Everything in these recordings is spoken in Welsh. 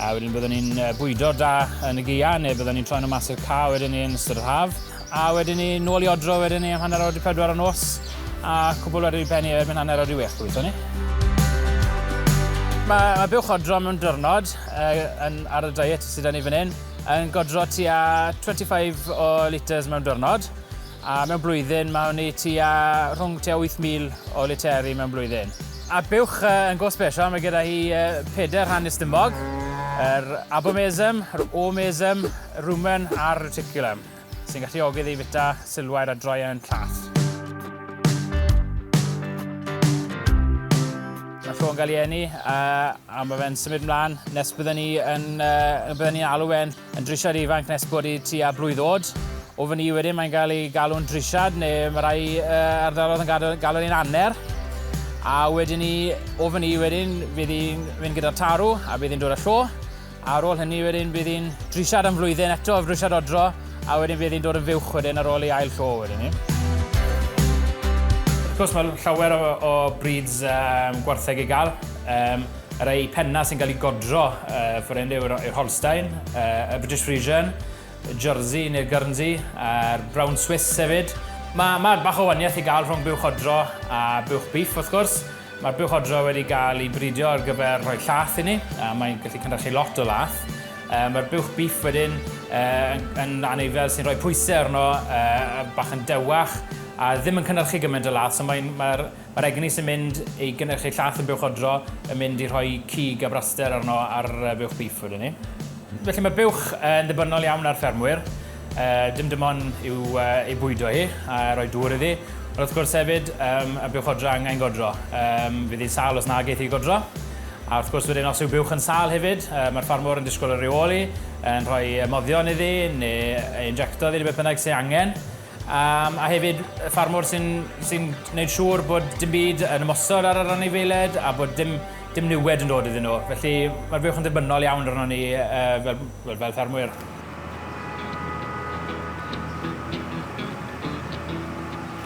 A wedyn byddwn ni'n bwydo da yn y gia, neu byddwn ni'n troi nhw mas i'r ca wedyn ni yn ystod yr haf. A wedyn ni nôl i odro wedyn ni am hanner awr di pedwar o nos, a cwbl wedyn i penni erbyn hanner awr di wech, gobeithio ni. Mae, mae buwch odro mewn dyrnod uh, yn, ar y diet sydd ni fan hyn yn godro tua 25 o litres mewn dyrnod. A mewn blwyddyn, mae hynny tua, rhwng tua 8,000 o literi mewn blwyddyn. A'r buwch yn go special, mae gyda hi peder rhan istymog, yr abomesum, yr omesum, yr rumen a'r reticulum, sy'n galluogi ddi fita silwair a droi yn llath. Mae ffôn gael ei eni, a mae fe'n symud mlaen nes bydden ni yn, bydden ni'n alw fe'n Yn drisiad ifanc nes bod i tua blwydd oed. O fyny i wedyn mae'n cael ei galw'n drisiad neu mae rhai uh, ardalodd yn galw, galw ni'n anner. A wedyn ni, o fyny i wedyn, fydd hi'n mynd gyda'r tarw a bydd hi'n dod â llo. A ar ôl hynny wedyn bydd hi'n drisiad am flwyddyn eto, drisiad odro, a wedyn bydd hi'n dod yn fywch wedyn ar ôl ei ail llo wedyn ni. Wrth gwrs mae llawer o, o brids um, gwartheg i gael. Um, Ar eu pennau sy'n cael eu godro, uh, Forende yw'r Holstein, uh, y British Frisian, y Jersey neu'r Guernsey, a'r Brown Swiss hefyd. Mae ma bach o waniaeth i gael rhwng buwch odro a buwch beef, wrth gwrs. Mae'r buwch odro wedi gael ei bridio ar gyfer rhoi llath i ni, a mae'n gallu cynrychu lot o lath. Uh, Mae'r buwch beef wedyn uh, yn, yn aneifel sy'n rhoi pwysau arno, uh, bach yn dewach, a ddim yn cynrychu gymaint o lath, so mae'n... Mae Mae'r egni sy'n mynd i gynhyrchu llath yn buwch odro yn mynd i rhoi cig a braster arno ar fuwch bîff wedyn 'ny. Felly mae buwch yn ddibynnol iawn ar ffermwyr, dim dim ond i'w ei bwydo hi a rhoi dŵr iddi, ond wrth gwrs hefyd y buwch odro angen godro, fydd hi'n sâl os na geith hi godro, a wrth gwrs wedyn os yw buwch yn sâl hefyd mae'r ffarmwr yn disgwyl y rheoli, yn rhoi moddion iddi neu ei injecto iddi neu beth bynnag sydd angen. Um, a hefyd y ffarmwr sy'n sy gwneud siŵr bod dim byd yn ymosod ar yr anifeiliaid a bod dim, dim niwed yn dod iddyn nhw. Felly mae'r fuwch yn ddibynnol iawn arno ni uh, fel, fel, fel ffermwyr.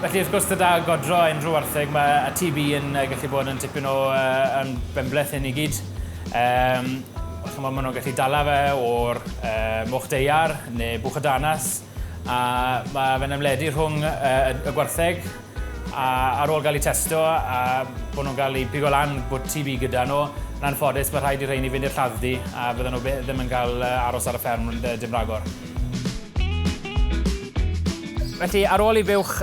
Felly, wrth gwrs, gyda godro unrhyw wartheg, mae y TB yn uh, gallu bod yn tipyn o uh, yn benbleth hyn i gyd. Um, chymod, maen nhw'n gallu dala fe o'r uh, moch deiar neu bwch y danas. A mae fe'n ymledu rhwng y gwartheg a ar ôl gael ei testo a bod nhw'n cael ei pigo lan bod TB gyda nhw, yn anffodus mae rhaid i rheini fynd i'r lladd-dy a bydden nhw ddim yn cael aros ar y fferm dim rhagor. Felly ar ôl i fuwch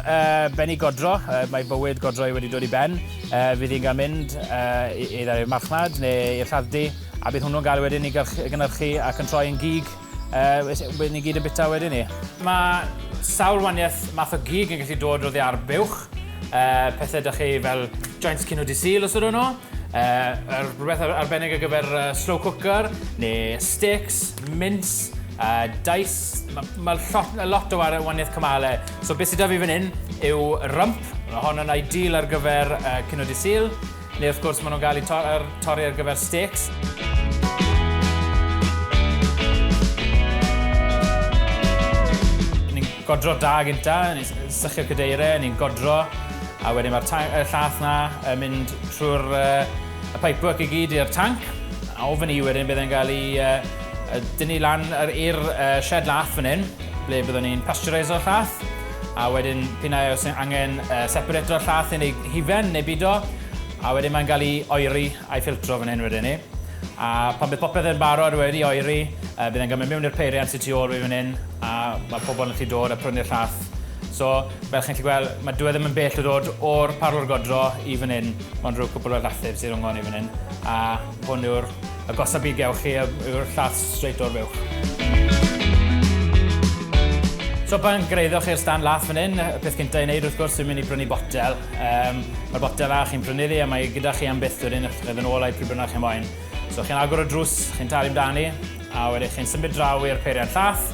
bennu godro, mae bywyd godro wedi dod i ben, fydd hi'n cael mynd either i'r marchnad neu i'r lladd-dy a bydd hwnnw'n gael wedyn i gynhyrchu ac yn troi yn gig. Uh, wedyn ni gyd yn bita wedyn ni. Mae sawl waniaeth math o gig yn gallu dod o ddi ar buwch. Uh, pethau da chi fel joints cyn o di sil os ydyn nhw. Uh, er, rhywbeth arbennig ar gyfer uh, slow cooker, neu sticks, mince, uh, dice. Mae ma lot, lot o waniaeth cymalau. So beth sydd da fi fan hyn yw rump. Mae hon yn ideal ar gyfer uh, cyn o di sil. Neu wrth gwrs maen nhw'n cael eu torri ar gyfer steaks. godro da gynta, ni'n sychu cadeirau, ni'n godro, a wedyn mae'r y llath na yn mynd trwy'r uh, y pipework i gyd i'r tanc, a ofyn i wedyn bydd e'n cael ei uh, dynnu lan i'r uh, shed lath fan hyn, ble byddwn ni'n pasteuriso'r llath, A wedyn, p'un ai oes angen uh, sepur eto llath yn ei hufen neu bido, a wedyn mae'n cael ei oeri a'i ffiltro fan hyn wedyn ni. A pan bydd popeth yn barod wedi oeri, uh, bydd e'n gymryd mewn i'r peiriant sy'n tu ôl fi fan hyn, a mae pobl yn lli dod a prynu'r llath. So, fel chi'n lli gweld, mae dwi e ddim yn bell o dod o'r parlwr godro i fan hyn, ond rhyw cwpl o llathur sy'n rhwng hon i fan hyn, a hwn yw'r A gosa byd gewch chi yw'r llath straight o'r fuwch. So pan greiddwch chi'r stand lath fan hyn, y peth cyntaf i wneud wrth gwrs sy'n mynd i brynu botel. Um, Mae'r botel fach chi'n prynu ddi a mae gyda chi am byth wedyn wrth yn ôl a'i pryd bynnag chi'n moyn. So chi'n agor y drws, chi'n talu amdani, a wedyn chi'n symud draw i'r peiriant llath,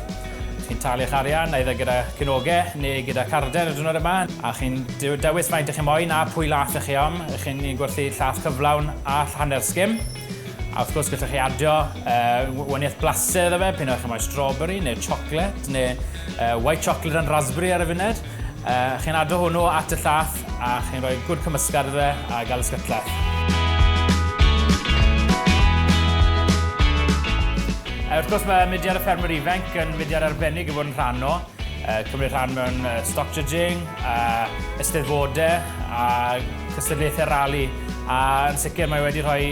Chi'n talu eich arian, eithr gyda cynogau neu gyda carden y diwrnod yma, a chi'n dewis faint ych chi'n moyn a pwy laeth ych chi am. Ych chi'n ni'n gwerthu llaeth cyflawn a hanner sgim. A wrth gwrs, gallwch chi adio uh, waniaeth blasu iddo fe, pyn o'ch chi'n moyn strawberry neu chocolate neu uh, white chocolate and raspberry ar y funud. Uh, chi'n adro hwnnw at y llath a chi'n rhoi gwrdd cymysgad iddo fe a gael y sgytlach. Uh, wrth gwrs mae mudiad y ffermwyr ifanc yn mudiad arbennig i fod yn rhan o. Uh, cymryd rhan mewn uh, stock judging, uh, ysteddfodau a cystadlaethau rali. A yn sicr mae wedi rhoi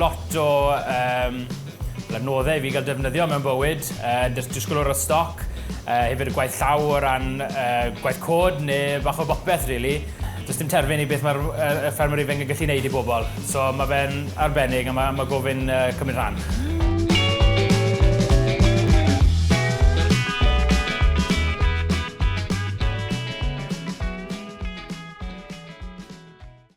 lot o um, Fel adnoddau i fi gael defnyddio mewn bywyd, yy jyst disgwyl o ran stoc, yy hefyd y gwaith llaw o ran yy gwaith cod neu bach o bopeth rili. Does dim terfyn i beth mae'r yy y ffermwr ifanc yn gallu neud i bobl, so ma' fe'n arbennig a ma' ma' gofyn yy cymryd rhan.